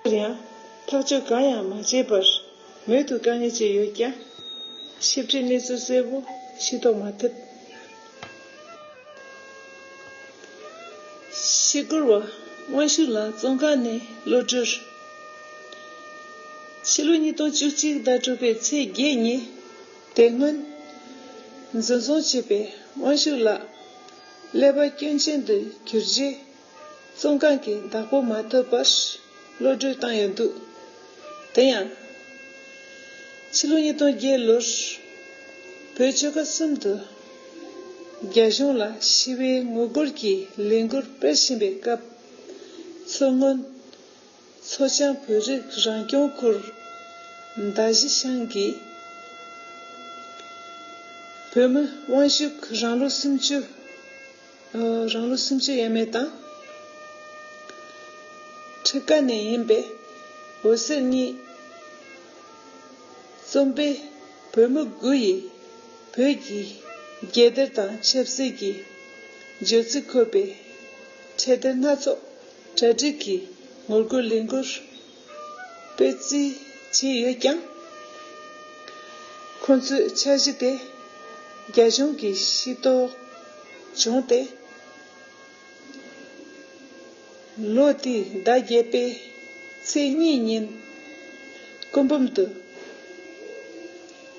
སླར་ཡང་ཐག་གཅོད་གང་ཡང་མ་བྱས་པར་མོད་དུ་དཀའ་ངལ་ཅི་ཡོད་ཀྱང། ཞིབ་ཕྲའི་གནས་ཚུལ་གསལ་བོ་ཞིག་རྟོགས་མ་ཐུབ། ཤི་སྒོར་བ་དབང་ཕྱུག་ལགས་བཙོན་ཁང་ནས་གློད་བཀྲོལ། ཕྱི་ལོ་ཉིས་སྟོང་བཅུ་གཅིག་ཟླ་དྲུག་པའི་ཚེས་བརྒྱད་ཉིན་དེ་སྔོན་འཛིན་བཟུང་བྱས་པའི་དབང་ཕྱུག་ལགས། ཀླད་པ་སྐྱོན་ཅན་དུ་གྱུར་རྗེས། བཙོན་ཁང་གི་བདག་པོ་མ་ཐོབ་པར་གློད་བཀྲོལ་བཏང་ཡོད་འདུག་དེ་ཡང། ཕྱི་ལོ་ཉིས་སྟོང་བརྒྱད་ལོར་བོད་ཆོལ་ཁ་གསུམ་དུ་རྒྱ་གཞུང་ལ་ཞི་བའི་ངོ་རྒོལ་གྱི་ལས་འགུལ་སྤེལ་བཞིན་པའི་སྐབས། མཚོ་སྔོན། མཚོ་བྱང་བོད་རིགས་རང་སྐྱོང་ཁུལ་མདའ་བཞི་ཤང་གི་བོད་མི་དབང་ཕྱུག་རང་ལོ་སུམ་ཅུ། རང་ལོ་སུམ་ཅུ་ཡས་མས་དང། ཁྲི་ཀ་ནས་ཡིན་པའི་འོད་ཟེར་གཉིས། རྩོམ་པས་བོད་མི་དགུ་ཡིས་བོད་ཀྱི་རྒྱལ་གཏེར་དང་ཆབ་སྲིད་ཀྱི་བརྗོད་ཚིག་འཁོད་པའི་འཕྲེད་གཏེར་སྣ་ཚོགས། གྲ་སྒྲིག་གི་ངོ་རྒོལ་ལས་འགུལ་སྤེལ་རྩིས་བྱས་ཡོད་ཀྱང། ཁོ་ཚོའི་འཆར་གཞི་དེ་རྒྱ་གཞུང་གིས་ཤེས་རྟོགས་བྱུང་སྟེ། ལོ་དེའི་ཟླ་བརྒྱད་པའི་ཚེས་གཉིས་ཉིན་སྐུ་འབུམ་དུ་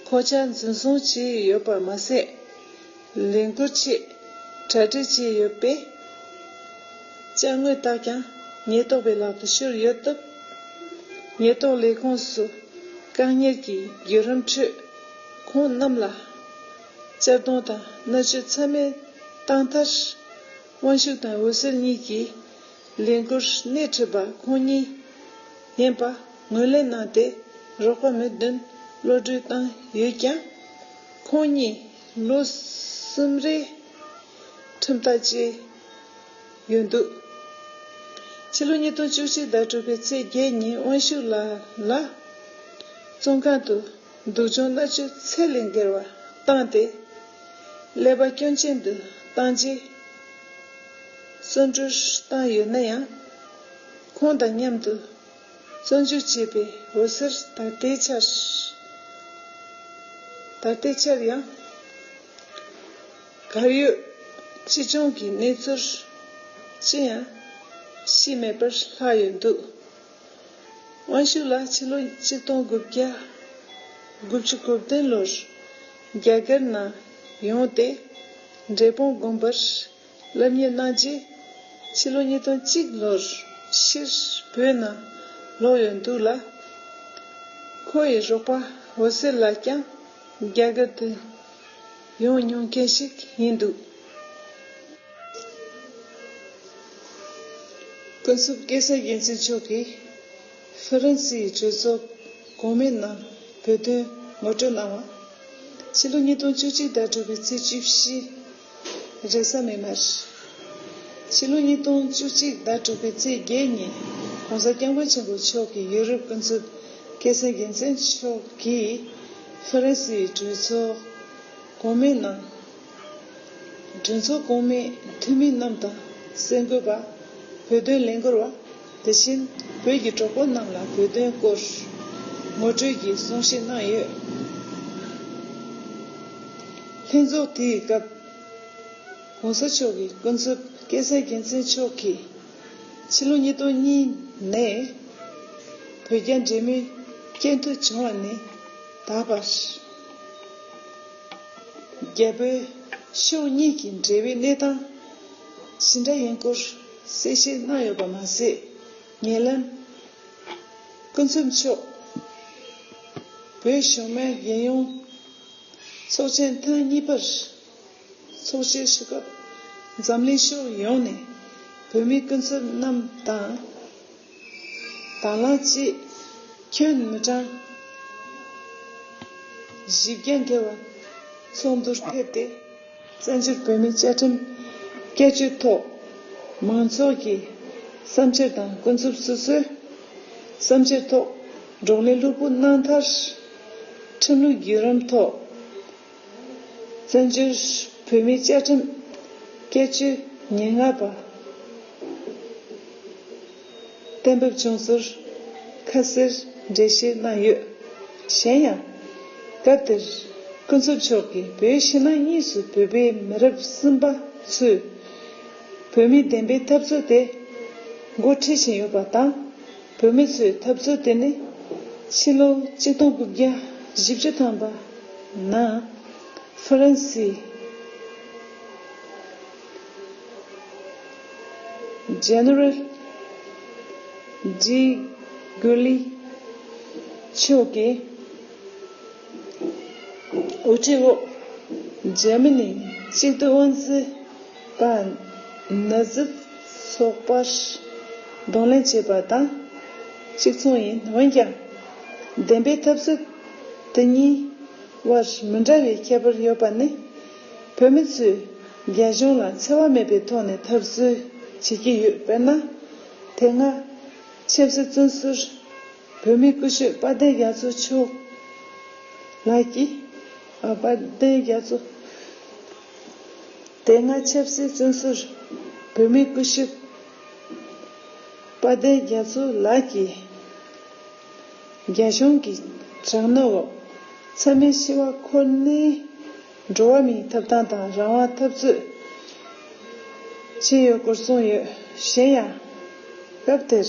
གོ་ཆ་འཛིན་བཟུང་བྱས་ཡོད་པ་མ་ཟད། ལས་འགུལ་ཆེད་གྲ་སྒྲིག་བྱས་ཡོད་པས། དཔྱ་དངོས་དག་ཀྱང་ཉེན་རྟོག་པའི་ལག་ཏུ་ཤོར་ཡོད་སྟབས། ཉེན་རྟོག་ལས་ཁུངས་སུ་བཀག་ཉར་གྱི་བརྒྱུད་རིམ་ཁྲོད། ཁོང་རྣམས་ལ་གཅར་རྡུང་དང་མནར་གཅོད་ཚད་མེད་བཏང་མཐར། དབང་ཕྱུག་དང་འོད་ཟེར་གཉིས་ཀྱིས་ལས་འགུལ་སྣེ་ཁྲིད་པ་ཁོང་གཉིས་ཡིན་པ་ངོས་ལེན་གནང་སྟེ་རོགས་པ་མི་བདུན་ཀློད་གྲོལ་བཏང་ཡོད་ཀྱང། ཁོང་གཉིས། ལོ་གསུམ་རེའི་ཁྲིམས་ཐག་བཅད་ཡོད་འདུག་ཕྱི་ལོ་ཉིས་སྟོང་བཅུ་གཅིག་ཟླ་དྲུག་པའི་ཚེས་བརྒྱད་ཉིན་དབང་ཕྱུག་ལགས་ལ་བཙོན་ཁང་དུ་སྡུག་སྦྱོང་མནར་གཅོད་ཚད་ལས་འགལ་བ་བཏང་སྟེ་ཀླད་པ་སྐྱོན་ཅན་དུ་བཏང་རྗེས་གསོན་བཀྲོལ་བཏང་ཡོད་ན་ཡང་ཁོང་དང་མཉམ་དུ། བཙོན་འཇུག་བྱས་པའི་འོད་ཟེར་ད་ལྟའི་ཆར་ད་ལྟའི་ཆར་ཡང་གར་ཡོད། ཅི་བྱུང་གི་གནས་ཚུལ་ཅི་ཡང་ཤེས་མེད་པར་ལྷག་ཡོད་འདུག་དབང་ཕྱུག་ལགས་ཕྱི་ལོ་གཅིག་སྟོང་དགུ་བརྒྱ་དགུ་བཅུ་དགུ་བདུན་ལོར་རྒྱ་གར་ནང་ཡོང་སྟེ་འབྲས་སྤུངས་དགོན་པར་སློབ་གཉེར་གནང་རྗེས་ཕྱི་ལོ་ཉིས་སྟོང་གཅིག་ལོར་ཕྱིར་བོད་ནང་ལོག་ཡོད་འདུག་ལ། ཁོ་ཡི་རོགས་པ་འོད་ཟེར་ལགས་ཀྱང་རྒྱ་གར་དུ་ཡོང་མྱོང་མཁན་ཞིག་ཡིན་འདུག། ཀུན་གསུམ་ཀེ་སར་རྒྱལ་མཚན་མཆོག་གིས་ཧྥི་རན་སིའི་གྲོས་ཚོགས་གོང་མའི་ནང་བོད་དོན་ངོ་སྤྲོད་གནང་བ། ཕྱི་ལོ་ཉིས་སྟོང་བཅུ་གཅིག་ཟླ་དྲུག་པའི་ཚེས་བཅུ་བཞི། རེ་ས་མེད་མར། ཕྱི་ལོ་ཉིས་སྟོང་བཅུ་གཅིག་ཟླ་དྲུག་པའི་ཚེས་བརྒྱད་ཉིན ྋགོང་ས ྋསྐྱབས་མགོན་ཆེན་པོ་མཆོག་གིས་ཡུ་རོབ་ཀུན་བཙུགས་སྐད་སེང་རྒྱལ་མཚན་མཆོག་གིས་ཧྥ་རན་སིའི་གྲོས་ཚོགས་གོང་མའི་ནང། གྲོས་ཚོགས་གོང་མའི་འཐུས་མི་རྣམས་དང་གསེར་འགོད་པ། བོད་དོན་ལས་འགུལ་བ། དེ་བཞིན་བོད་ཀྱི་གྲོགས་པོ་རྣམས་ལ་བོད་དོན་སྐོར་ངོ་སྤྲོད་ཀྱི་གསུང་བཤད་གནང་ཡོད། ལྷན་ཚོགས་དེའི་སྐབས ྋགོང་ས་མཆོག་གི་སྐུ་མཛོད་སྐལ་བཟང་རྒྱལ་མཚན་མཆོག་གིས་ཕྱི་ལོ་ཉིས་སྟོང་གཉིས་ནས་བོད་རྒྱ་འབྲེལ་མོལ་སྐད་འཐོད་བྱུང་བ་ནི་ད་བར་རྒྱ་བོད་ཕྱོགས་གཉིས་ཀྱི་འབྲེལ་བའི་གནས་སྟངས་ཇི་འདྲ་ཡིན་སྐོར། གསལ་བཤད་གནང་ཡོད་པ་མ་ཟད། ཉེ་ལམ། སྐུ་མཚམས་མཆོག་བོད་གཞུང་མའི་རྒྱལ་ཡོངས་ཚོགས་ཆེན་ཐེངས་གཉིས་པར་ཚོགས་བཅར་ཞུ་སྐབས་འཛམ་གླིང་ཕྱོགས་ཡོངས་ནས་བོད་མི་སྐུ་ཚབ་རྣམས་དང། དང་ལ་གཅིག། ཁྱོད་མི་གྲངས་བཞི་བརྒྱ་འགལ་བ་ཚོགས་འདུར་ཕེབས་ཏེ་བཙན་བྱོལ་བོད་མིའི་བཅའ་ཁྲིམས་བསྐྱར་བཅོས་ཐོག་མང་ཚོགས་ཀྱི་བསམ་འཆར་དང་ཀུན་རྫོབ་སོ་སོའི་བསམ་འཆར་ཐོག་བགྲོ་གླེང་ལྷུག་པོ་གནང་མཐར། ཁྲིམས་ལུགས་བརྒྱུད་རིམ་ཐོག། བཙན་བྱོལ་བོད་མིའི་བཅའ་ཁྲིམས་བཀས་བཅོས་ཉེར་ལྔ་པ་གཏན་འབེབས་བྱུང་ཚུལ་ཁ་གསལ་འགྲེལ་བཤད་གནང་ཡོད། གཞན་ཡང། སྐབས་དེར་ཀུན་རྫོབ་མཆོག་གིས་བོད་ཕྱི་ནང་གཉིས་སུ་བོད་པའི་མི་རབས་གསུམ་པ་ཚོས་བོད་མིའི་བདེན་པའི་འཐབ་རྩོད་དེ་འགོ་ཁྲིད་བཞིན་ཡོད་པ་དང། བོད་མི་ཚོའི་འཐབ་རྩོད་དེ་ནི་ཕྱི་ལོ་གཅིག་སྟོང་དགུ་བརྒྱ་བཞི་བཅུ་ཐམ་པ་ན་ཧྥ་རན་སི General de Gaulle མཆོག་གི་དབུ་ཁྲིད་འོག་ཇར་མ་ནི་གཅིག་སྡུད་དབང་འཛིན་པ། ནུ་བཟི་སོགས་པར་གདོང་ལེན་བྱེད་པ་དང་གཅིག་མཚུངས་ཡིན། འོན་ཀྱང། བདེན་པའི་ཐབས་རྩོད་དེ་གཉིས་དབར་མི་འདྲ་བའི་ཁྱད་པར་ཡོད་པ་ནི། བོད་མི་ཚོས་རྒྱ་གཞུང་ལ་འཚེ་བ་མེད་པའི་ཐོག་ནས་ཐབས་རྩོད་བྱེད་ཀྱི་ཡོད། དཔེར་ན། དེ་སྔ། ཆབ་སྲིད་བཙོན་ཟུར། བོད་མིའི་སྐུ་ཞབས་དཔལ་ལྡན་རྒྱ་མཚོ་མཆོག་ལགས་ཀྱིས། དཔལ་ལྡན་རྒྱ་མཚོ། དེ་སྔ་ཆབ་སྲིད་བཙོན་ཟུར་བོད་མིའི་སྐུ་ཞབས་དཔལ་ལྡན་རྒྱ་མཚོ་ལགས་ཀྱིས་རྒྱ་གཞུང་གི་དྲག་གནོན་འོག་ཚང་མའི་འཆི་བ་ཁོ་ནའི་འགྲོ་བ་མིའི་ཐོབ་ཐང་དང་རང་དབང་འཐབ་རྩོད་བྱས་ཡོད་སྐོར་གསུངས་ཡོད་གཞན་ཡང་སྐབས་དེར།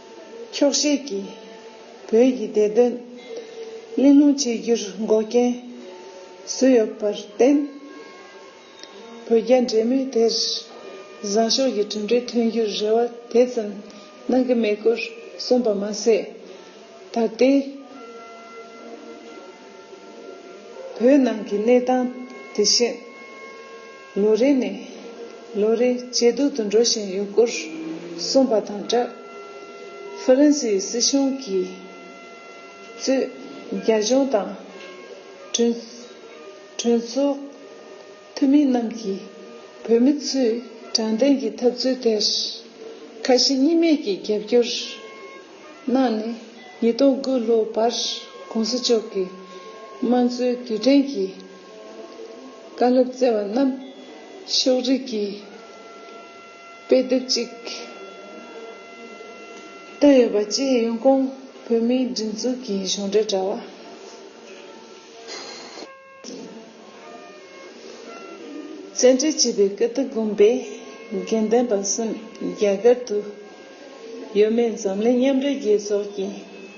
འཁྱོག་བཤད་ཀྱིས་བོད་ཀྱི་བདེ་དོན་གླེང་སློང་བྱེད་རྒྱུར་འགོག་རྐྱེན་བཟོས་ཡོད་པར་བརྟེན། བོད་རྒྱ་འབྲེལ་མོལ་དེར་བཟང་ཕྱོགས་ཀྱི་གྲུབ་འབྲས་ཐོན་རྒྱུར་རེ་བ་དེ་ཙམ་གནང་གི་མེད་སྐོར་གསུངས་པ་མ་ཟད། ད་ལྟའི་བོད་ནང་གི་གནས་སྟངས་དེ་བཞིན། ལོ་རེ་ནས་ལོ་རེ་ཇེ་སྡུག་ཏུ་འགྲོ་བཞིན་ཡོད་སྐོར་གསུངས་པ་དང་སྦྲགས། ཧྥ་རན་སིའི་སྲིད་གཞུང་གིས་གཙོས་རྒྱ་གཞུང་དང། གྲོས་ཚོགས་འཐུས་མི་རྣམས་ཀྱིས་བོད་མི་ཚོའི་དྲང་བདེན་གྱི་འཐབ་རྩོད་དེར་ཁ་ཞེ་གཉིས་མེད་ཀྱིས་རྒྱབ་སྐྱོར་གནང་ནས་ཉིས་སྟོང་དགུ་ལོ་བར་གོང་ས་མཆོག་གི་དམངས་གཙོའི་དུས་དྲན་གྱི་བཀའ་སློབ་སྩལ་བ་རྣམས་ཕྱོགས་རིས་ཀྱི་དཔེ་དེབ་ཅིག་ཏུ་ཡོད་པ་བཅས་ཡོན་ཀོང་བོད་མིའི་སྒྲིག་འཛུགས་ཀྱི་གཞུང་འབྲེལ་དྲ་བ། བཙན་འཁྲིད་བྱས་པའི་ཀི་ཏི་དགོན་པའི་དགེ་ལྡན་པ་གསུམ་རྒྱ་གར་དུ་ཡོད་མེད་འཛམ་གླིང་མཉམ་འབྲེལ་རྒྱལ་ཚོགས་ཀྱི་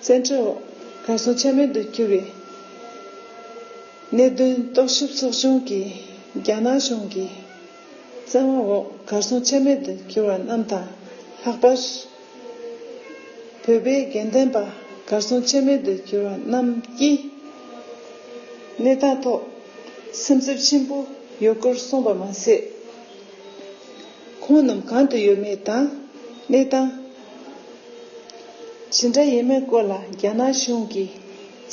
བཙན་འཕྲོག་འོག་གར་སོང་ཆ་མེད་དུ་གྱུར་བའི་གནད་དོན་རྟོག་ཞིབ་ཚོགས་ཆུང་གིས་རྒྱ་ནག་གཞུང་གི་བཙན་དབང་འོག་གར་སོང་ཆ་མེད་དུ་གྱུར་བ་རྣམས་དང་ལྷག་པར་བོད་པའི་དགེ་ལྡན་པ་གར་སོང་ཆ་མེད་དུ་གྱུར་བ་རྣམས་ཀྱི་གནས་སྟངས་ཐོག་སེམས་འཚབ་ཆེན་པོ་ཡོད་སྐོར་གསུངས་པ་མ་ཟད། ཁོང་རྣམས་གང་དུ་ཡོད་མེད་དང་གནས་སྟངས། ཇི་འདྲ་ཡིན་མིན་སྐོར་ལ་རྒྱ་ནག་གཞུང་གིས་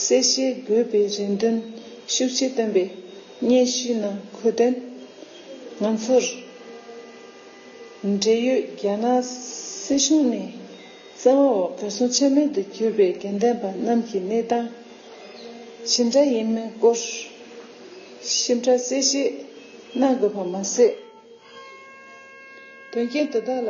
གསལ་བཤད་དགོས་པའི་རེ་འདུན་ཤུགས་ཆེ་བཏོན་པའི་སྙན་ཞུའི་ནང་འཁོད་དོན། ང་ཚོར་འབྲེལ་ཡོད་རྒྱ་ནག་སྲིད་གཞུང་ནས་བཙན་དབང་འོག་གར་སོང་ཆ་མེད་དུ་གྱུར་པའི་དགེ་ལྡན་པ་རྣམས་ཀྱི་གནས་སྟངས་ཇི་འདྲ་ཡིན་མིན་སྐོར་ཞིབ་ཕྲ་གསལ་བཤད་གནང་དགོས་པ་མ་ཟད། དོན་རྐྱེན་དེ་དག་ལ།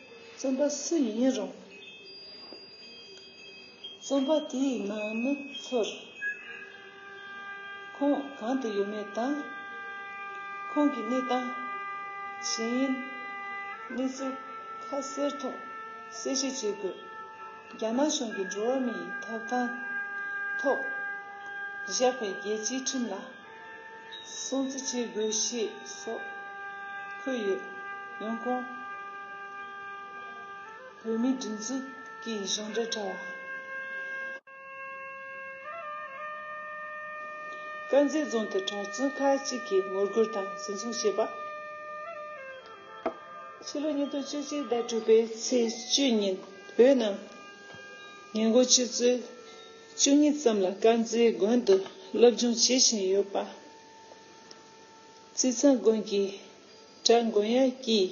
བརྩམས་པ་སུ་ཡིན་རུང་བརྩམས་པ་དེའི་ནང་ནས་ཚུར་ཁོང་གང་དུ་ཡོད་མེད་དང། ཁོང་གི་གནས་སྟངས་ཇི་ཡིན་གནས་ཚུལ་ཁ་གསལ་ཐོག་གསལ་བཤད་བྱེད་དགོས། རྒྱ་ནག་གཞུང་གིས་འགྲོ་བ་མིའི་ཐོབ་ཐང་ཐོག་བཞག་པའི་རྒྱལ་སྤྱིའི་ཁྲིམས་ལ། སྲུང་བརྩི་བྱེད་དགོས་ཞེས་སོགས་འཁོད་ཡོད། ཡང་ཀོང་བོད་མིའི་སྒྲིག་འཛུགས་ཀྱི་གཞུང་འབྲེལ་དྲ་བ། དཀར་མཛེས་རྫོང་དུ་གྲྭ་བཙུན་ཁག་གཅིག་གིས་ངོ་རྒོལ་དང་འཛིན་བཟུང་བྱས་པ། ཕྱི་ལོ་ཉིས་སྟོང་བཅུ་གཅིག་ཟླ་དྲུག་པའི་ཚེས་བཅུ་ཉིན་བོད་ནང་ཉེན་འགོག་ཆུ་ཚོད་བཅུ་གཉིས་ཙམ་ལ་དཀར་མཛེས་དགོན་དུ་སློབ་སྦྱོང་བྱེད་བཞིན་ཡོད་པ། རྩིས་ཚང་དགོན་གྱི་གྲྭ་མགོན་ཡང་སྐྱིད།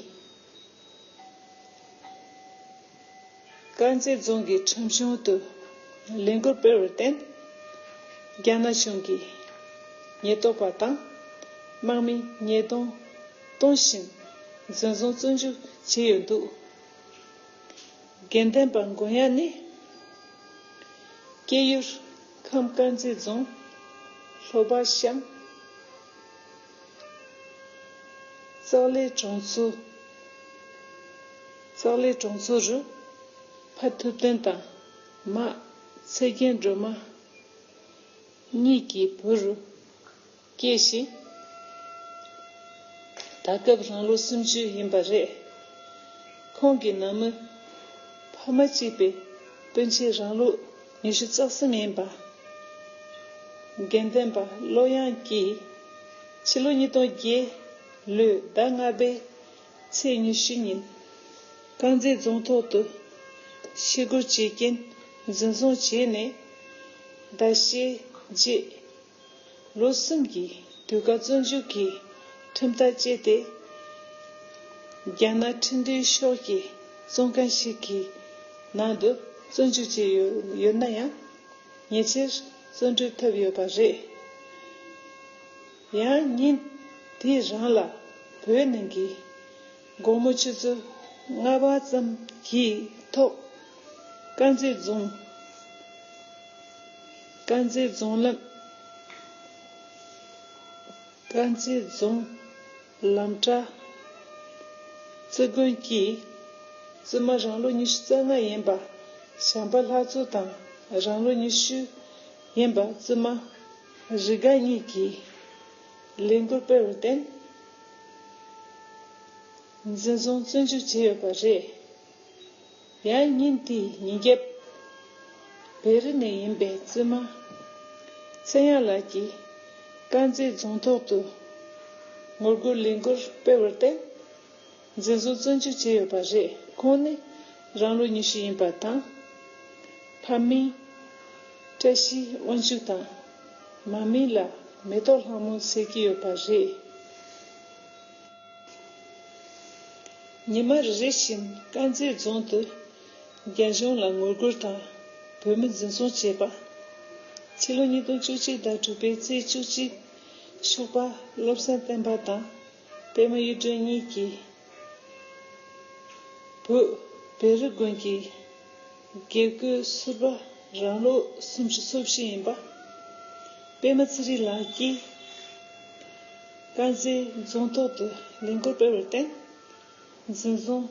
དཀར་མཛེས་རྫོང་གི་ཁྲོམ་གཞུང་དུ་ལས་འགུལ་སྤེལ་བར་བརྟེན། རྒྱ་ནག་གཞུང་གིས་ཉེན་རྟོག་པ་དང་དམག་མིས་ཉེས་རྡུང་གཏོང་བཞིན་འཛིན་བཟུང་བཙོན་འཇུག་བྱས་ཡོད་འདུག། དགེ་ལྡན་པ་མགོན་ཡ་ནི། སྐྱེས་ཡུལ་ཁམས་དཀར་མཛེས་རྫོང་ལྷོ་པ་ཤང། ཙག་ལའི་གྲོང་ཚོཙག་ལའི་གྲོང་ཚོ་རུ། ཕ་ཐུབ་བསྟན་དང་མ་ཚེ་རྒྱན་སྒྲོལ་མ་གཉིས་ཀྱི་བུ་རུ། སྐྱེས་ཤིང། ད་སྐབས་རང་ལོ་སུམ་ཅུ་ཡིན་པ་རེད། ཁོང་གི་ནང་མི་ཕ་མ་གཅིག་པའི་སྤུན་མཆེད་རང་ལོ་ཉི་ཤུ་རྩ་གསུམ་ཡིན་པ། དགེ་ལྡན་པ་བློ་དབྱངས་ཀྱིས་ཕྱི་ལོ་ཉིས་སྟོང་བརྒྱད་ལོའི་ཟླ་ལྔ་པའི་ཚེས་ཉི་ཤུ་ཉིན་དཀར་མཛེས་རྫོང་ཐོག་ཏུ་ཤི་སྒོར་བྱེད་ཀྱིན་འཛིན་བཟུང་བྱས་ནས་ཟླ་ཤས་རྗེས། ལོ་གསུམ་གྱི་དུས་བཀག་བཙོན་འཇུག་གི་ཁྲིམས་ལྟར་བཅད་དེ། རྒྱ་ནག་ཁྲིམས་མཐུན་ཕྱོགས་ཀྱི་བཙོན་ཁང་ཞིག་གི་ནང་དུ་བཙོན་འཇུག་བྱས་ཡོད་ན་ཡང་ཉེ་ཆར་བཙོན་གྲོལ་ཐུབ་ཡོད་པ་རེད། ཡང་ཉིན་དེ་རང་ལ་བོད་ནང་གི་དགོང་མོ་ཆུ་ཚོད་ལྔ་བ་ཙམ་གྱི་ཐོག་དཀར་མཛེས་རྫོང། དཀར་མཛེས་རྫོང་ལམ་དཀར་མཛེས་རྫོང་ལམ་བྲག་རྩེ་དགོན་གྱིས་བཙུན་མ་རང་ལོ་ཉི་ཤུ་རྩ་ལྔ་ཡིན་པ་བྱམས་པ་ལྷ་བཙུན་དང་རང་ལོ་ཉི་ཤུ་ཡིན་པ་བཙུན་མ་རི་དགའ་གཉིས་ཀྱིས་ལས་འགུལ་སྤེལ་བར་བརྟེན་འཛིན་བཟུང་བཙོན་འཇུག་བྱས་ཡོད་པ་རེད། ཡང་ཉིན་དེ་ཉིན་རྒྱབ། བེ་རི་ནས་ཡིན་པའི་བཙུན་མ། ཚེ་དབྱངས་ལགས་ཀྱིས། དཀར་མཛེས་རྫོང་ཐོག་ཏུ། ངོ་རྒོལ་ལས་འགུལ་སྤེལ་བར་བརྟེན། འཛིན་བཟུང་བཙོན་འཇུག་བྱས་ཡོད་པ་རེད་ཁོང་ནི་རང་ལོ་ཉི་ཤུ་ཡིན་པ་དང། ཕ་མིང། བཀྲ་ཤིས་དབང་ཕྱུག་དང། མ་མིང་ལ་མེ་ཏོག་ལྷ་མོ་ཟེར་གྱི་ཡོད་པ་རེད། ཉི་མ་རེ་རེ་བཞིན་དཀར་མཛེས་རྫོང་དུ་རྒྱ་གཞུང་ལ་ངོ་རྒོལ་དང་བོད་མི་འཛིན་བཟུང་བྱས་པ། ཕྱི་ལོ་ཉིས་སྟོང་བཅུ་གཅིག་ཟླ་དྲུག་པའི་ཚེས་བཅུ་གཅིག་ཤུག་པ་བློ་བཟང་བསྟན་པ་དང་པད་མ་གཡུ་སྒྲོན་གཉིས་ཀྱིས་བོད་བེ་རི་དགོན་གྱི་དགེ་བསྐོས་ཟུར་པ་རང་ལོ་སུམ་ཅུ་སོ་བཞི་ཡིན་པ་པད་མ་ཚེ་རིང་ལགས་ཀྱིས། དཀར་མཛེས་རྫོང་ཐོག་ཏུ་ལས་འགུལ་སྤེལ་བར་བརྟེན། འཛིན་བཟུང་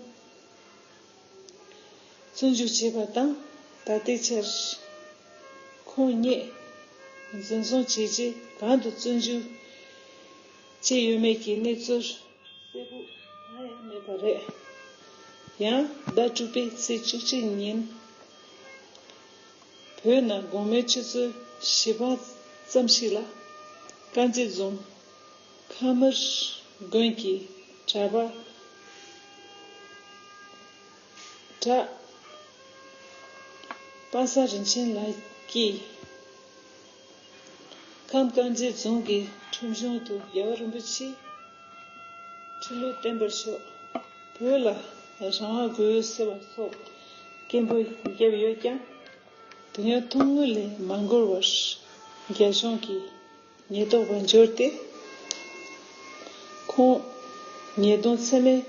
བཙོན་འཇུག་བྱས་པ་དང་ད་ལྟའི་ཆར་ཁོང་ཉིད་འཛིན་བཟུང་བྱས་རྗེས་གང་དུ་བཙོན་འཇུག་བྱས་ཡོད་མེད་ཀྱི་གནས་ཚུལ་གསལ་པོ་གང་ཡང་མེད་པ་རེད། ཡང་ཟླ་དྲུག་པའི་ཚེས་བཅུ་གཅིག་ཉིན། བོད་ནང་དགོང་མོའི་ཆུ་ཚོད་བཞི་པ་ཙམ་ཞིག་ལ། དཀར་མཛེས་རྫོང། ཁམས་མིར་དགོན་གྱི་གྲྭ་པ། གྲྭ་དཔང་ས་རིན་ཆེན་ལགས་ཀྱིས། ཁམས་དཀར་མཛེས་རྫོང་གི་ཁྲོམ་གཞུང་དུ་རྒྱལ་བ་རིན་པོ་ཆེས་ཁྲི་ལོ་བརྟན་པར་ཤོག་བོད་ལ་རང་དབང་དགོས་ཟེར་བ་སོགས་སྐད་འབོད་བརྒྱབ་ཡོད་ཀྱང། དེ་ཡང་ཐུང་ངུ་ལས་མ་འགོར་བར་རྒྱ་གཞུང་གིས་ཉེས་རྟོག་པ་འབྱོར་ཏེ། ཁོང་ཉེས་རྡུང་ཚད་མེད་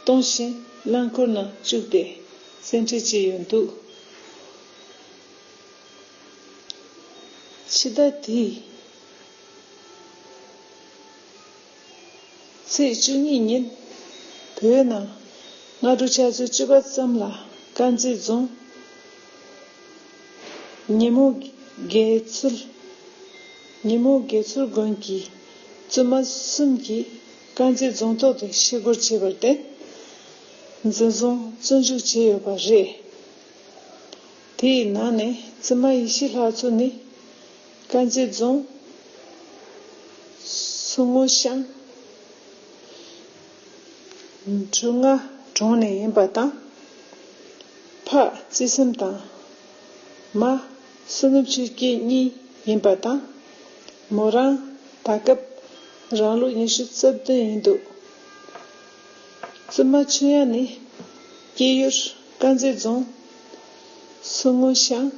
གཏོང་བཞིན་རླངས་འཁོར་ནང་བཅུག་སྟེ་བཙན་ཁྲིད་བྱས་ཡོད་འདུག། འཆི་བདག་དེས། ཚེས་བཅུ་གཉིས་ཉིན་བོད་ནང་སྔ་དྲོ་ཆ་ཚོད་བཅུ་པ་ཙམ་ལ་དཀར་མཛེས་རྫོང་ཉིན་མོ་དགེ་ཚུལ་ཉིན་མོ་དགེ་ཚུལ་དགོན་གྱི་བཙུན་མ་གསུམ་གྱིས་དཀར་མཛེས་རྫོང་ཐོག་ཏུ་ཤི་སྒོར་བྱས་པར་བརྟེན། མཛེས་རྫོང་བཙོན་འཇུག་བྱས་ཡོད་པ་རེད། དེ་ཡི་ནང་ནས་རྩི་མ་ཡེ་ཤེས་ལྷ་མཚོ་ནི། དཀར་མཛེས་རྫོང། ཟུར་སྔོ་ཤང། འབྲུ་རྔ་གྲོང་ནས་ཡིན་པ་དང། ཕག་རྩི་སེམས་དང། མ། བསོད་ནམས་ཆོས་སྐྱིད་གཉིས་ཡིན་པ་དང། མོ་རང། ད་སྐབས། རང་ལོ་ཉི་ཤུ་རྩ་བདུན་ཡིན་འདུག། བཙུན་མ་ཆོས་དབྱངས་ནི། སྐྱེས་ཡུལ་དཀར་མཛེས་རྫོང། ཟུར་སྔོན་ཤང།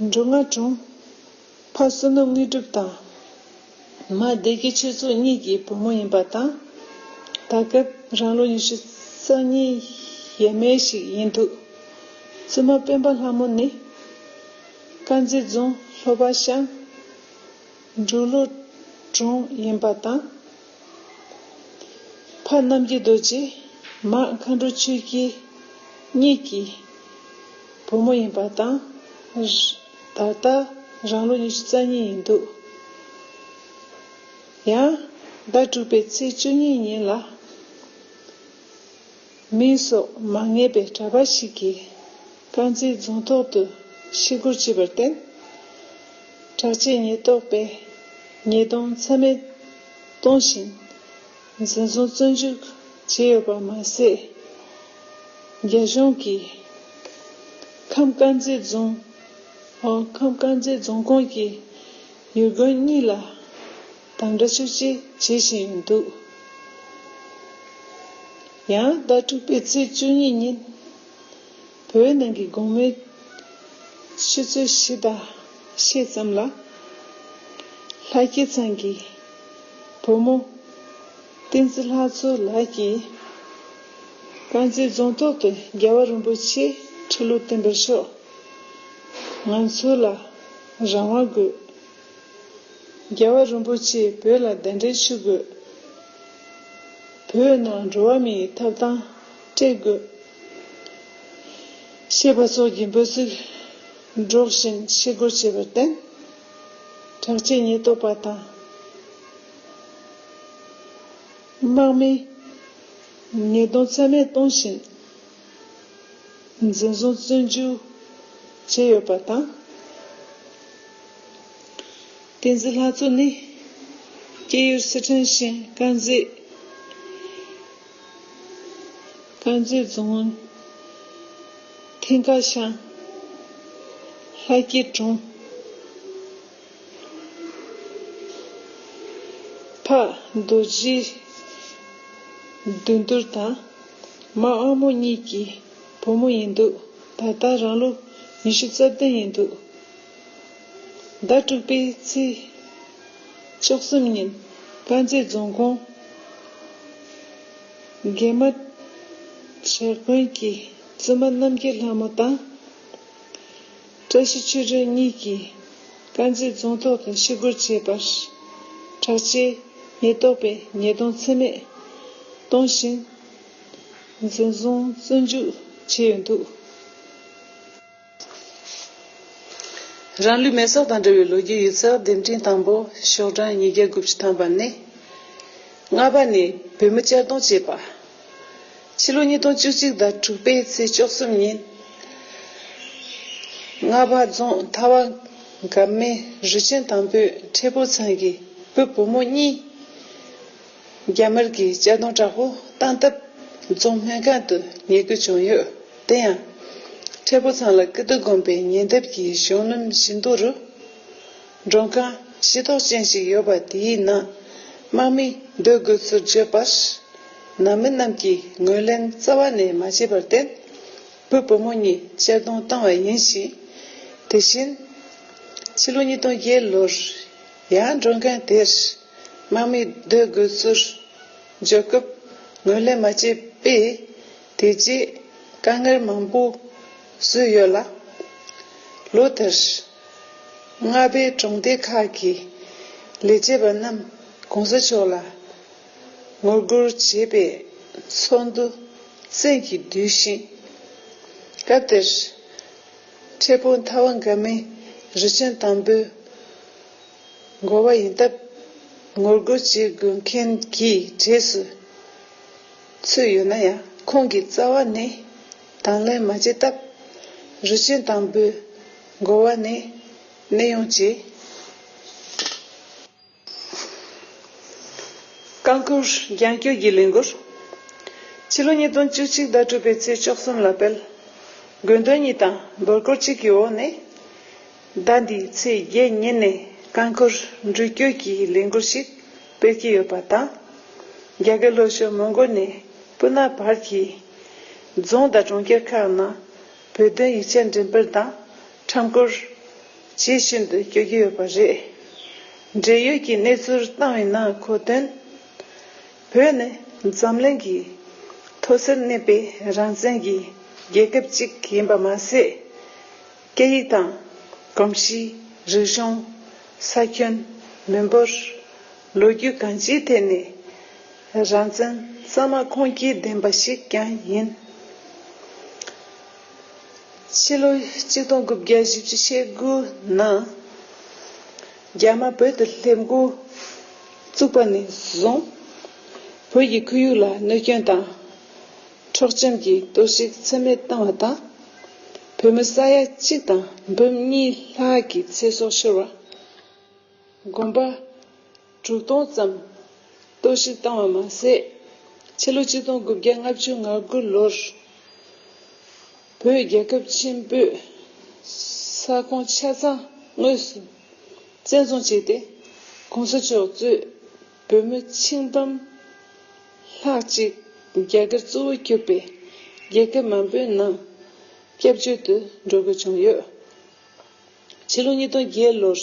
འབྲུ་རྔ་གྲོང། ཕ་བསོད་ནམས་དངོས་གྲུབ་དང། མ་སྡེ་དགེ་ཆོས་འཚོ་གཉིས་ཀྱི་བུ་མོ་ཡིན་པ་དང། ད་སྐབས་རང་ལོ་ཉི་ཤུ་རྩ་གཉིས་ཡས་མས་ཤིག་ཡིན་འདུག་བཙུན་མ་སྤེན་པ་ལྷ་མོ་ནི། དཀར་མཛེས་རྫོང་ལྷོ་པ་ཤང། འབྲུག་བློ་གྲོང་ཡིན་པ་དང། ཕ་རྣམ་རྒྱལ་རྡོ་རྗེ་མ་མཁའ་འགྲོ་ཆོས་རྒྱལ་གཉིས་ཀྱི་བུ་མོ་ཡིན་པ་དང། ད་ལྟ་རང་ལོ་ཉི་ཤུ་རྩ་གཉིས་ཡིན་འདུག་ཡང། ཟླ་དྲུག་པའི་ཚེས་བཅུ་གཉིས་ཉིན་ལ། མིང་སོགས་མ་ངེས་པའི་གྲྭ་པ་ཞིག་གིས་དཀར་མཛེས་རྫོང་ཐོག་ཏུ་ཤི་སྒོར་བྱས་པར་བརྟེན། དྲག་ཆས་ཉེན་རྟོག་པས་ཉེས་རྡུང་ཚད་མེད་གཏོང་བཞིན་འཛིན་བཟུང་བཙོན་འཇུག་བྱས་ཡོད་པ་མ་ཟད། རྒྱ་གཞུང་གིས་ཁམས་དཀར་མཛེས་རྫོང་ཁམས་དཀར་མཛེས་རྫོང་ཁོངས་ཀྱི་ཡུལ་དགོན་གཉིས་ལ། དང་འདྲ་ཆུ་བྱི་བྱེད་བཞིན་འདུག། ཡང་ཟླ་དྲུག་པའི་ཚེས་བཅུ་གཉིས་ཉིན། བོད་ནང་གི་དགོང་མོའི་ཆུ་ཚོད་བཞི་དང་ཕྱེད་ཙམ་ལ། ལྷ་སྐྱིད་ཚང་གི་བུ་མོ་བསྟན་འཛིན་ལྷ་མཚོ་ལགས་ཀྱིས། དཀར་མཛེས་རྫོང་ཐོག་ཏུ་རྒྱལ་བ་རིན་པོ་ཆེ་ཁྲི་ལོ་བསྟན་པ་ཤོག་ང་ཚོ་ལ་རང་དབང་དགོས། རྒྱལ་བ་རིན་པོ་ཆེས་བོད་ལ་གདན་འདྲེན་ཞུ་དགོས། བོད་ནང་འགྲོ་བ་མིའི་ཐབ་ཐང་སྤྲད་དགོས། ཞེས་པ་སོགས་ཀྱི་འབོད་ཚིག་སྒྲོག་བཞིན་ཤི་སྒོར་བྱས་པར་བརྟེན། དྲག་ཆས་ཉེན་རྟོག་པ་དང། དམག་མིས་ཉེས་རྡུང་ཚད་མེད་གཏོང་བཞིན། འཛིན་བཟུང་བཙོན་འཇུག་བྱས་ཡོད་པ་དང། བསྟན་འཛིན་ལྷ་མཚོ་ནི་སྐྱེས་ཡུལ་སི་ཁྲོན་ཞིང་དཀར་མཛེས་རྫོང་མཐིང་ཁ་ཤང་ལྷ་སྐྱིད་གྲོང་ཕག་རྡོ་རྗེའི་འདུས་མདོར་དང། མ་ཨ་མོ་གཉིས་ཀྱི་བུ་མོ་ཡིན་འདུག་ད་ལྟ་རང་ལོ་ཉི་ཤུ་རྩ་བདུན་ཡིན་འདུག་ཟླ་དྲུག་པའི་ཚེས་བཅུ་གསུམ་ཉིན་དཀར་མཛེས་རྫོང་ཁོངས་རྒན་མ་བྱ་དགོན་གྱི་བཙུན་མ་རྣམ་རྒྱལ་ལྷ་མོ་དང། བཀྲ་ཤིས་ཆོས་སྒྲོན་གཉིས་ཀྱིས་དཀར་མཛེས་རྫོང་ཐོག་ཏུ་ཤི་སྒོར་བྱས་པར། དྲག་ཆས་ཉེན་རྟོག་པས་ཉེས་རྡུང་ཚད་མེད་གཏོང་བཞིན། འཛིན་བཟུང་བཙོན་འཇུག་བྱས་ཡོད་འདུག། རང་ལུས་མེ་སྲོག་དང་འབྲེལ་བའི་ལོ་རྒྱུས་ཡིག་ཚགས་འདེམས་ཐིང་དང་པོ་ཤོག་གྲངས་ཉིས་བརྒྱ་དགུ་བཅུ་ཐམ་པ་ནི། རྔ་པ་ནས་བོད་མི་གཅར་རྡུང་བྱས་པ། ཕྱི་ལོ་ཉིས་སྟོང་བཅུ་གཅིག་ཟླ་དྲུག་པའི་ཚེས་བཅོ་གསུམ་ཉིན། རྔ་བ་རྫོང་མཐའ་བ་འགབ་མའི་རུས་ཆེན་དང་པོའི་ཁྲེ་ཕུ་ཚང་གི་བུ་བུ་མོ་གཉིས། རྒྱ་དམར་གྱི་གཅར་རྡུང་དྲག་པོ་བཏང་སྟབས་རྫོང་སྨན་ཁང་དུ་ཉལ་དགོས་བྱུང་ཡོད། དེ་ཡང། ཁྲེ་ཕུ་ཚང་ལ་ཀི་ཏུ་དགོན་པའི་ཉེ་འདབས་ཀྱི་གཞོང་སྣུམ་བཞི་མདོ་རུ། མགྲོན་ཁང་ཤེས་རྟོགས་ཅན་ཞིག་ཡོད་པ་དེའི་ནང་དམག་མི་སྡོད་དགོས་ཚུལ་བརྗོད་པར། ནང་མི་རྣམས་ཀྱིས་ངོས་ལེན་རྩ་བ་ནས་མ་བྱས་པར་བརྟེན། བུ་བུ་མོ་གཉིས་གཅར་རྡུང་བཏང་བ་ཡིན་ཞིང། དེ་བཞིན། ཕྱི་ལོ་ཉིས་སྟོང་བརྒྱད་ལོར་ཡང་མགྲོན་ཁང་དེར་དམག་མི་སྡོད་དགོས་ཚུལ་བརྗོད་སྐབས་ངོས་ལེན་མ་བྱས་པས། དེ་རྗེས་དཀའ་ངལ་མང་པོ་བཟོས་ཡོད་ལ། ལོ་དེར་རྔ་པའི་གྲོང་སྡེ་ཁག་གི་ལས་བྱེད་པ་རྣམས་གོང་ས་མཆོག་ལ་ངོ་རྒོལ་བྱེད་པའི་ཚོགས་འདུ་བཙན་གྱིས་བསྡུས་ཤིང། སྐབས་དེར་འཕྲལ་ཕུགས་མཐའ་བ་འགའ་མི་རི་ཅན་དང་པོའི་འགོ་བ་ཡིན་སྟབས་ངོ་རྒོལ་བྱེད་དགོས་མཁན་གྱི་གྲས་སུ་ཚུད་ཡོད་ན་ཡང་ཁོང་གི་རྩ་བ་ནི། དང་ལེན་མ་བྱས་སྟབས། རི་ཆེན་དང་པོའི་འགོ་བ་ནས་གནས་ཡོང་བྱས། རྐང་འཁོར་རྒྱང་སྐྱོད་ཀྱི་ལས་འགུལ། ཕྱི་ལོ་ཉིས་སྟོང་བཅུ་གཅིག་ཟླ་དྲུག་པའི་ཚེས་བཅོ་གསུམ་ལ་དཔལ། དགོས་འདོད་གཉིས་དང་འབོད་སྐུལ་གཅིག་གི་འོག་ནས། ཟླ་འདིའི་ཚེས་བརྒྱད་ཉིན་ནས་རྐང་འཁོར་འགྲུལ་སྐྱོད་ཀྱི་ལས་འགུལ་ཞིག་སྤེལ་གྱི་ཡོད་པ་དང། རྒྱ་གར་ལྷོ་ཕྱོགས་མོང་གོལ་ནས་པུ་ན་བར་གྱི་རྫོང་དང་གྲོང་ཁྱེར་ཁག་ནང་བོད་དོན་ཡིག་ཆ་འགྲེམ་སྤེལ་དང་འཁྲབ་སྐོར་བྱེད་ཤིན་ཏུ་སྐྱོད་ཀྱི་ཡོད་པ་རེད། འབྲེལ་ཡོད་ཀྱི་གནས་ཚུལ་བཏང་བའི་ནང་འཁོད་དོན། བོད་ནི་འཛམ་གླིང་གི་མཐོ་སར་གནས་པའི་རང་བཙན་གྱི་རྒྱལ་ཁབ་ཅིག་ཡིན་པ་མ་ཟད། སྐད་ཡིག་དང། གོམས་གཤིས། རིག་གཞུང། ས་ཁྱོན། མི་འབོར། ལོ་རྒྱུས་གང་ཅིའི་ཐད་ནས། རང་བཙན་ས་མ་ཁོངས་སྐྱེལ་ལྡན་པ་ཞིག་ཀྱང་ཡིན། ཕྱི་ལོ་གཅིག་སྟོང་དགུ་བརྒྱ་བཞི་བཅུ་ཞེ་དགུ་ནང། རྒྱ་དམར་བོད་དུ་སླེབས་མགོ་བཙུགས་པ་ནས་བཟུང། བོད་ཀྱི་ཁོར་ཡུག་ལ་གནོད་སྐྱོན་དང། འཕྲོག་བཅོམ་གྱི་གཏོར་བཤིག་ཚད་མེད་བཏང་བ་དང། བོད་མི་ས་ཡ་གཅིག་དང་འབུམ་གཉིས་ལྷག་གི་ཚེ་སྲོག་ཤོར་བ། དགོན་པ་དྲུག་སྟོང་ཙམ་གཏོར་བཤིག་བཏང་བ་མ་ཟད། ཕྱི་ལོ་གཅིག་སྟོང་དགུ་བརྒྱ་ལྔ་བཅུ་ང་དགུ་ལོར་བོད་རྒྱལ་ཁབ་ཆེན་པོས་ས་ཁོངས་ཆ་ཚང་དངོས་སུ་བཙན་བཟུང་བྱས་ཏེ་གོང་ས་མཆོག་གཙོས། བོད་མི་ཆིངས་ཕམ། ལྷག་ཅིག་རྒྱ་གར་གཙོ་བོ་གྱུར་པའི་རྒྱལ་ཁབ་མང་པོའི་ནང་སྐྱབས་བཅོལ་དུ་འགྲོ་དགོས་བྱུང་ཡོད། ཕྱི་ལོ་ཉིས་སྟོང་བརྒྱད་ལོར་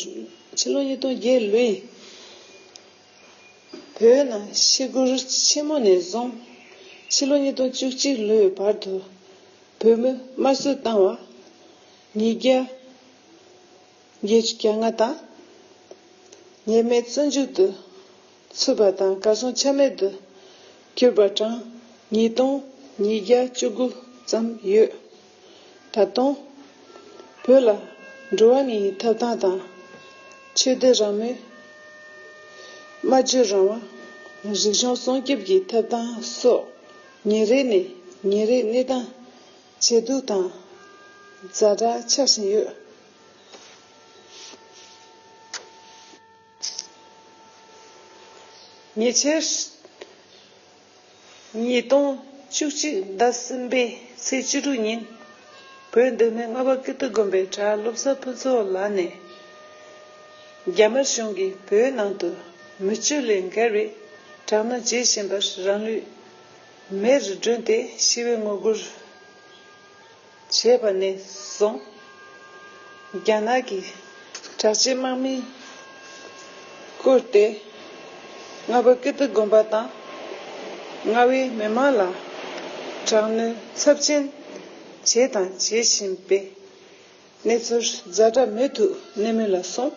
ཕྱི་ལོ་ཉིས་སྟོང་བརྒྱད་ལོའི་བོད་ནང་ཤི་སྒོར་ཆེན་མོ་ནས་བཟུང་ཕྱི་ལོ་ཉིས་སྟོང་བཅུ་གཅིག་ལོའི་བར་དུ་བོད་མི་དམར་གསོད་བཏང་བ། ཉིས་བརྒྱ། རྒྱལ་གྱི་སྐྱབས་མངའ་དང། ཉེས་མེད་བརྩོན་འགྲུས་དུ། ཚུད་པ་དང་བཀའ་སྲུང་ཆད་མེད་དུ། གྱུར་པ་གྲངས་ཉིས་སྟོང་ཉིས་བརྒྱ་བཅུ་དགུ་ཙམ་ཡོད། ད་དུང། བོད་ལ་འགྲོ་བ་མི་ཡི་ཐབ་ཐང་དང། ཆོས་དད་རང་མོས། སྨྲ་བརྗོད་རང་དབང། རིག་གཞུང་སྲུང་སྐྱོབ་ཀྱི་ཐབ་ཐང་སོགས་ཉིན་རེ་ནས་ཉིན་རེ་གནས་སྟངས་ཇེ་སྡུག་དང། རྫ་དྲག་ཆགས་བཞིན་ཡོད། ཉེ་ཆར། ཉིས་སྟོང་བཅུ་གཅིག་ཟླ་གསུམ་པའི་ཚེས་བཅུ་དྲུག་ཉིན། བོད་འདི་མི་ལྔ་པ་ཀིརྟི་དགོན་པའི་གྲྭ་སློབ་ས་ཕུན་ཚོགས་ལགས་ནས། རྒྱ་དམར་གཞུང་གིས་བོད་ནང་དུ་མི་སྤྱོད་ལས་འགལ་བའི་དྲག་གནོན་བྱེད་བཞིན་པར་རང་ལུས་མེར་བསྒྲོན་ཏེ་ཞི་བའི་ངོ་རྒོལ། བྱས་པ་ནས་བཟུང་རྒྱ་ནག་གི་དྲག་ཆས་དམག་མིས་བཀུར་ཏེ་རྔ་བ་ཀིརྟི་དགོན་པ་དང་རྔ་བའི་མི་དམངས་ལ་དྲག་གནོན་ཚབས་ཆེན་བྱས་དང་བྱེད་བཞིན་པའི་གནས་ཚུལ་རྫ་དྲག་མོས་ཐུགས་ནན་མོ་ལ་སོང་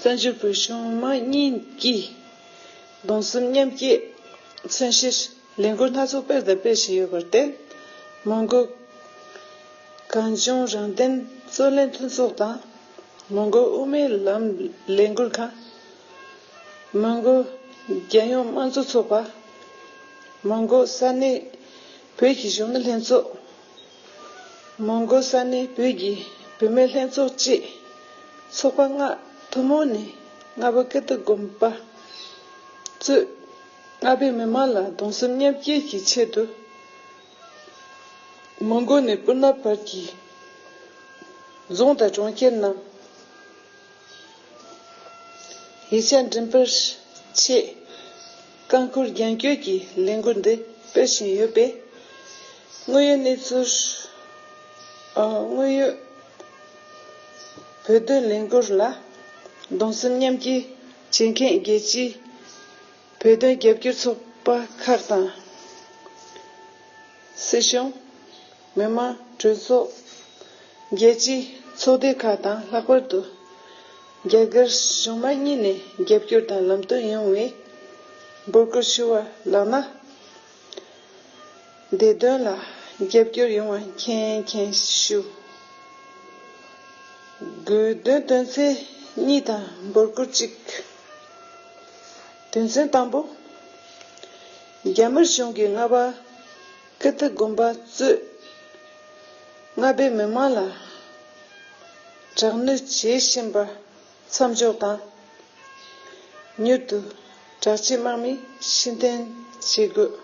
བཙན་བྱོལ་བོད་གཞུང་དམངས་གཉིས་ཀྱིས་གདུང་སེམས་མཉམ་སྐྱེད་མཚོན་བྱེད། ལས་འགུལ་སྣ་ཚོགས་སྤེལ་དང་སྤེལ་བཞིན་ཡོད་པར་བརྟེན། མོན་གྷོ། གངས་ལྗོངས་རང་བདེན་རྩོད་ལེན་མཐུན་ཚོགས་དང། མོན་གྷོ་དབུ་མའི་ལམ་ལས་འགུལ་ཁང། མོན་གྷོ་རྒྱལ་ཡོངས་དམངས་གཙོ་ཚོགས་པ། མོན་གྷོ་ས་གནས་བོད་ཀྱི་གཞོན་ནུ་ལྷན་ཚོགས། མོན་གྷོ་ས་གནས་བོད་ཀྱི་བུད་མེད་ལྷན་ཚོགས་བཅས་ཚོགས་པ་ལྔ་ཐུན་མོང་ནས་ལྔ་པོ་སྐད་དུ་དགོངས་པ་གཙོས། རྔ་པའི་མི་མང་ལ་གདུང་སེམས་མཉམ་སྐྱེད་ཀྱི་ཆེད་དུ། མོན་གྷོ་ནས་སྤུ་ན་བར་གྱི་རྫོང་དང་གྲོང་ཁྱེར་རྣམས་ཡིག་ཆ་འགྲིམ་པར་ཆེད་རྐང་འཁོར་རྒྱང་སྐྱོད་ཀྱི་ལས་འགུལ་འདི་སྤེལ་བཞིན་ཡོད་པས། དངོས་ཡོད་གནས་ཚུལ། དངོས་ཡོད་བོད་དོན་ལས་འགུལ་ལ་གདུང་སེམས་མཉམ་སྐྱེད་བྱེད་མཁན་རྒྱལ་སྤྱིའི། བོད་དོན་རྒྱབ་སྐྱོར་ཚོགས་པ་ཁག་དང། སྲིད་གཞུང། མི་དམངས་གྲོས་ཚོགས། རྒྱལ་སྤྱིའི་ཚོགས་སྡེ་ཁག་དང་ལྷག་པར་དུ། རྒྱ་གར་གཞུང་མང་གཉིས་ནས་རྒྱབ་སྐྱོར་དང་ལམ་སྟོན་ཡོང་བའི་འབོད་སྐུལ་ཞུ་བ་ལགས་ན། འདི་དོན་ལ་རྒྱབ་སྐྱོར་ཡོང་བ་མཁྱེན་མཁྱེན་ཞུ། དགོས་དོན་དོན་ཚན་གཉིས་དང་འབོར་སྐུར་གཅིག། དོན་ཚན་དང་པོ། རྒྱ་དམར་གཞུང་གིས་རྔ་པ་ཀི་ཏི་དགོན་པ་གཙོས་རྔ་པའི་མི་དམངས་ལ་དྲག་གནོན་བྱེད་བཞིན་པ། མཚམས་འཇོག་དང། མྱུར་དུ་དྲག་སྤྱི་དམག་མི་ཕྱིར་འཐེན་བྱེད་དགོས།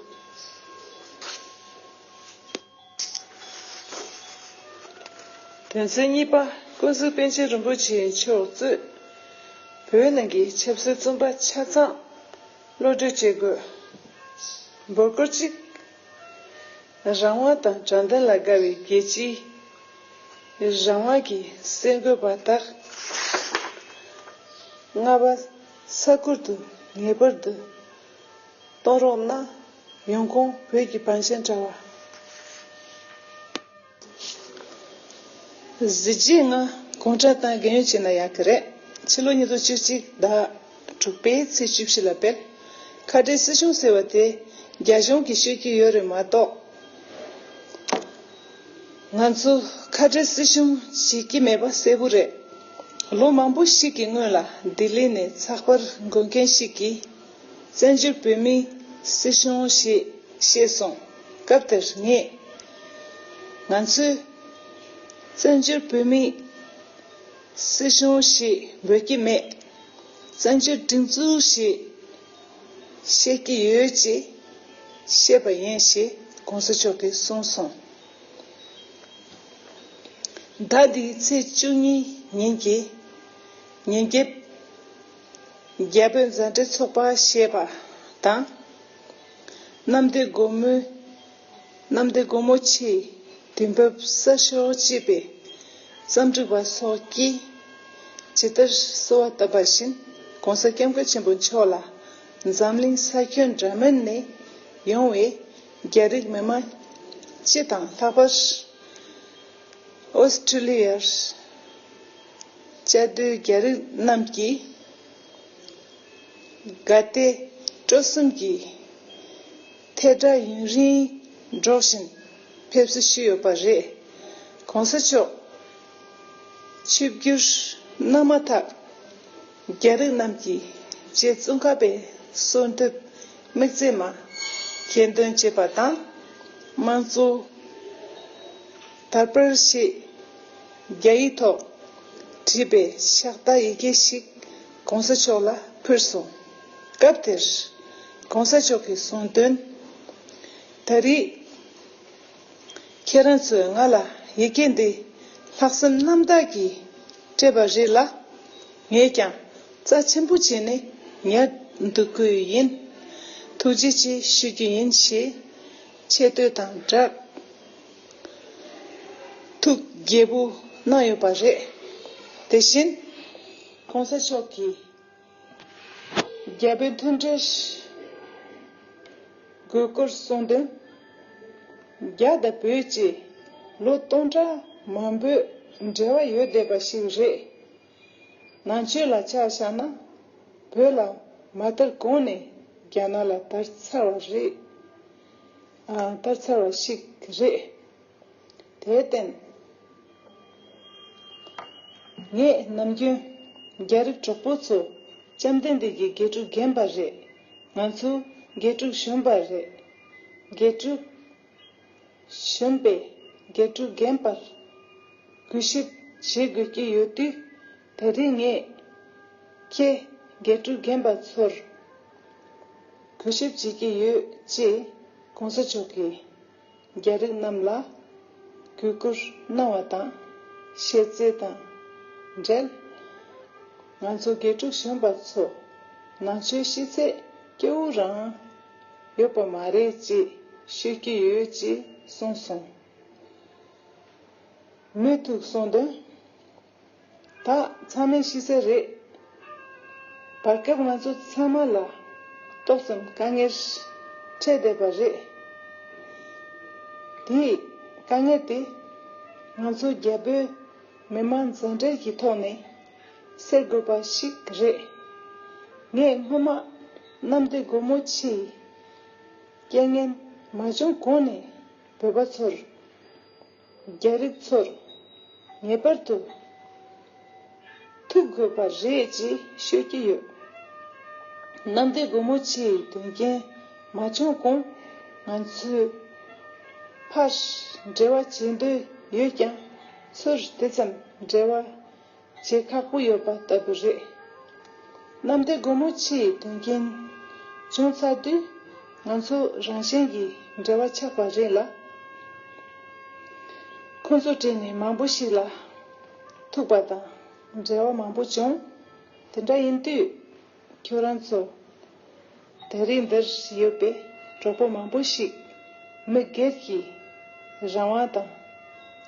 དོན་ཚན་གཉིས་པ་ཀུན་གཟིགས་པཎ་ཆེན་རིན་པོ་ཆེ་མཆོག་གཙོས་བོད་ནང་གི་ཆབ་སྲིད་རྩོམ་པ་ཆ་ཚང་བློ་གྲོས་བྱེད་དགོས། འབོར་སྐོར་གཅིག། རང་དབང་དང་དྲང་བདེན་ལ་དགའ་བའི་རྒྱལ་སྤྱིའི་རང་དབང་གི་སེམས་འགུལ་བ་དག་རྔ་བ་ས་ཁུལ་དུ་ངེས་པར་དུ་གཏོང་རོགས་གནང། ཡོང་ཁུངས་བོད་ཀྱི་བང་ཆེན་དྲ་བ། གཟི་བརྗིད་ལྔ། གུང་ཁྲན་ཏང་རྒན་ཡོལ་ཅན་ལ་ཡག་གི་རེད། ཕྱི་ལོ་ཉིས་སྟོང་བཅུ་གཅིག་ཟླ། དྲུག་པའི་ཚེས་བཅུ་བཞི་ལ་སྤེལ། ཁ་བྲལ་སྲིད་གཞུང་ཟེར་བ་དེ་རྒྱ་གཞུང་གིས་ཤེས་ཀྱི་ཡོད་རེད་མ་གཏོགས། ང་ཚོ་ཁ་བྲལ་སྲིད་གཞུང་བྱེད་ཀྱི་མེད་པ་གསལ་བོ་རེད། ལོ་མང་པོ་ཞིག་གི་སྔོན་ལ་ལྡི་ལི་ནས་ཚགས་པར་འགོད་མཁན་ཞིག་གིས། བཙན་བྱོལ་བོད་མིའི་སྲིད་གཞུང་ཞེས་བཤད་སོང། སྐབས་དེར་ངས། ང་ཚོས་བཙན་བྱོལ་བོད་མིའི་སྲིད་གཞུང་ཞེས་འབོད་ཀྱི་མེད། བཙན་བྱོལ་སྒྲིག་འཛུགས་ཞེས་བཤད་ཀྱི་ཡོད་ཅེས་བཤད་པ་ཡིན་ཞེས་གོང་ས་མཆོག་གིས་གསུངས་སོང། ཟླ་འདིའི་ཚེས་བཅུ་གཉིས་ཉིན་གྱི་ཉིན་རྒྱབ། རྒྱལ་པོའི་མཛའ་འབྲེལ་ཚོགས་པ་ཞེས་པ་དང། གནམ་བདེ་སྒོ་མོའི། གནམ་བདེ་སྒོ་མོ་ཆེའི་དུས་བབས་གསར་ཤོག་ཅེས་པའི་བརྩམས་སྒྲུང་པ་སོགས་ཀྱིས་ཇི་ལྟར་གསོལ་བ་བཏབ་པ་བཞིན ྋགོང་ས ྋསྐྱབས་མགོན་ཆེན་པོ་མཆོག་ལ་འཛམ་གླིང་ས་ཁྱོན་འདྲ་མིན་ནས་ཡོང་བའི་རྒྱ་རིགས་མི་མང་སྤྱི་དང་ལྷག་པར་ཨོསྟྲེལིཡར་བཅའ་སྡོད་རྒྱ་རིགས་རྣམས་ཀྱིས་དགའ་དད་སྤྲོ་གསུམ་གྱིས། ཐལ་སྒྲ་ཡུན་རིང་སྒྲོག་བཞིན་ཕེབས་བསུ་ཞུས་ཡོད་པ་རེད། གོང་ས་མཆོག་ཆིབས་བསྒྱུར་གནང་མ་ཐག་རྒྱ་རིགས་རྣམས་ཀྱིས་རྗེ་བཙུན་ཁ་པའི་གསོལ་འདེབས་དམིགས་བརྩེ་མ་གྱེར་འདོན་བྱས་པ་དང། དམངས་གཙོ་དར་སྤེལ་ཞེས་རྒྱ་ཡིག་ཐོག་བྲིས་པའི་ཕྱག་བསྟར་ཡི་གེ་ཞིག་གོང་ས་མཆོག་ལ་ཕུལ་སོང། སྐབས་དེར། གོང་ས་མཆོག་གིས་གསུངས་དོན། ད་རེས། ཁྱེད་རང་ཚོས་ང་ལ་ཡི་གེ་འདི་ལྷག་བསམ་རྣམ་དག་གིས་སྤྲད་པ་རེད་ལ། ངས་ཀྱང་རྩ་ཆེན་པོ་བྱས་ནས་ཉར་འདུག་དགོས་ཡི་ཡིན། ཐུགས་རྗེ་ཆེ་ཞུ་རྒྱུ་ཡིན་ཞེས་ཆེ་བསྟོད་དང་སྦྲགས། ཐུགས་དགྱེས་པོ་གནང་ཡོད་པ་རེད། དེ་བཞིན། གོང་ས་མཆོག་གིས། རྒྱལ་བའི་མཐུན་འབྲེལ་དགོས་སྐོར་གསུངས་དོན། རྒྱ་དང་བོད་ཀྱི་ལོ་སྟོང་ཕྲག་མང་པོའི་འབྲེལ་བ་ཡོད་བསྡད་པ་ཞིག་རེད། ནང་ཆོས་ལ་ཆ་བཞག་ན་བོད་ལ་མ་དར་གོང་ནས་རྒྱ་ནག་ལ་དར་ཚར་བ་ཞིག་རེད། དེར་བརྟེན། ངས་ནམ་རྒྱུན། རྒྱ་རིགས་གྲོགས་པོ་ཚོ། བཅོམ་ལྡན་འདས་ཀྱིས་དགེ་ཕྲུག་རྒན་པ་རེད། ང་ཚོ། དགེ་ཕྲུག་གཞོན་པ་རེད། དགེ་ཕྲུག། གཞོན་པས། དགེ་ཕྲུག་རྒན་པར། གུས་ཞིབ། བྱེད་དགོས་ཀྱི་ཡོད་དུས། ད་རེས་ངས། ཁྱེད། དགེ་ཕྲུག་རྒན་པ་ཚོར། གུས་ཞིབ་བྱེད་ཀྱི་ཡོད། ཅེས། གོང་ས་མཆོག་གིས། རྒྱ་རིགས་རྣམས་ལ་གུས་བཀུར་གནང་བ་དང་བཤད་རྩིས་དང་འབྲེལ། ང་ཚོ་དགེ་ཕྲུག་གཞོན་པ་ཚོ་ནང་ཆོས་ཤེས་ཚད་སྐྱེ་བོ་རང་ཡོད་པ་མ་རེད་ཅེས་ཤོད་ཀྱི་ཡོད་ཅེས་གསུངས་སོང། མོས་ཐུགས་གསུངས་དོན། ད་ཚང་མས་ཤེས་གསལ་རེད། བར་སྐབས་ང་ཚོ་ཚང་མ་ལ་ཏོག་ཙམ་དཀའ་ངལ་འཕྲད་བསྡད་པ་རེད། དེ་དཀའ་ངལ་དེ་ང་ཚོ་རྒྱ་བོད་མི་དམངས་མཛའ་འབྲེལ་གྱི་ཐོག་ནས་སེལ་དགོས་པ་ཞིག་རེད། ངས་སྔོན་མ་གནམ་བདེ་སྒོ་མོ་ཆེའི་རྐྱེན་ངན་མ་བྱུང་གོང་ནས་བོད་པ་ཚོར། རྒྱ་རིགས་ཚོར་ངེས་པར་དུ་ཐུག་དགོས་པ་རེད་ཅེས་ཤོད་ཀྱི་ཡོད། གནམ་བདེ་སྒོ་མོ་ཆེའི་དོན་རྐྱེན་མ་བྱུང་གོང་ང་ཚོས་ཕར་འབྲེལ་བ་བྱེད་འདོད་ཡོད་ཀྱང་ཚུར་དེ་ཙམ་འབྲེལ་བ་བྱེད་ཁག་པོ་ཡོད་པ་ལྟ་བུ་རེད། གནམ་བདེ་སྒོ་མོ་ཆེ་ཡི་དོན་རྐྱེན་བྱུང་ཚར་དུས་ང་ཚོ་རང་གཞན་གྱི་འབྲེལ་བ་ཆགས་པ་རེད་ལ། ཁོ་ཚོ་བྲིས་ནས་མང་པོ་ཞིག་ལ་ཐུག་པ་དང་འབྲེལ་བ་མང་པོ་བྱུང། དེ་འདྲ་ཡིན་དུས། ཁྱོད་རང་ཚོ་ད་རེས་འདིར་ཡོད་པའི་གྲོགས་པོ་མང་པོ་ཞིག་མི་སྒེར་གྱི་རང་དབང་དང།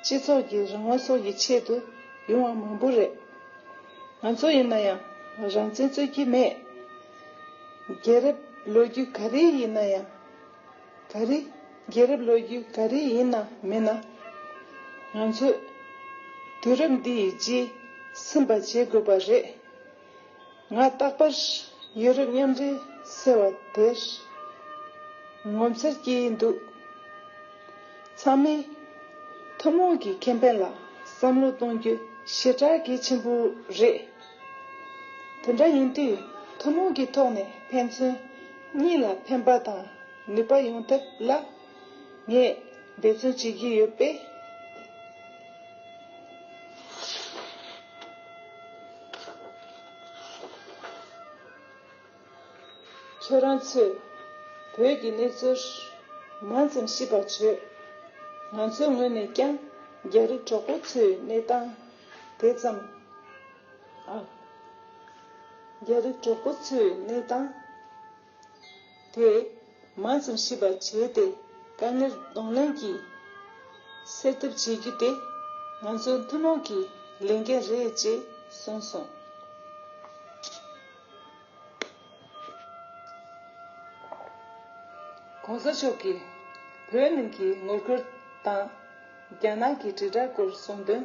སྤྱི་ཚོགས་ཀྱི་རང་དབང་སོགས་ཀྱི་ཆེད་དུ་ཡོང་བ་མང་པོ་རེད། ང་ཚོ་ཡིན་ན་ཡང་རང་བཙན་རྩོད་ཀྱི་མེད། རྒྱལ་རབས་ལོ་རྒྱུས་ག་རེ་ཡིན་ན་ཡང་ག་རེ་རྒྱལ་རབས་ལོ་རྒྱུས་ག་རེ་ཡིན་ན་མིན་ན། ང་ཚོས་དུས་རབས་འདི་ཡི་རྗེས་ཟིན་པ་བྱེད་དགོས་པ་རེད། ང་རྟག་པར་ཡུ་རོབ་མཉམ་འབྲེལ་ཟེར་བ་དེར་ངོ་མཚར་སྐྱེ་ཡི་འདུག་ཚང་མས་ཐུན་མོང་གི་ཁེ་ཕན་ལ་བསམ་བློ་གཏོང་རྒྱུ་ཞེ་དྲག་གལ་ཆེན་པོ་རེད། དེ་འདྲ་ཡིན་དུས་ཐུན་མོང་གི་ཐོག་ནས་ཕན་ཚུན་གཉིས་ལ་ཕན་པ་དང་ནུས་པ་ཡོང་ཐབས་ལ་ངས་འབད་བརྩོན་བྱེད་ཀྱི་ཡོད་པས། ཁྱེད་རང་ཚོས་བོད་ཀྱི་གནས་ཚུལ་མང་ཙམ་ཤེས་པར་བྱོས། ང་ཚོའི་ངོས་ནས་ཀྱང་རྒྱ་རིགས་གྲོགས་པོ་ཚོའི་གནས་སྟངས་དེ་ཙམ། རྒྱ་རིགས་གྲོགས་པོ་ཚོའི་གནས་སྟངས། དེས་མ་ཙམ་ཤེས་པར་བྱས་ཏེ་དཀའ་ངལ་གདོང་ལེན་གྱིས་སེལ་ཐབས་བྱེད་རྒྱུ་དེ་ང་ཚོའི་ཐུན་མོང་གི་ལས་འགན་རེད་ཅེས་གསུངས་སོང། གོང་ས་མཆོག་གིས་བོད་ནང་གི་ངོ་རྒོལ་དང་རྒྱ་ནག་གི་དྲིལ་བསྒྲགས་སྐོར་གསུང་དོན།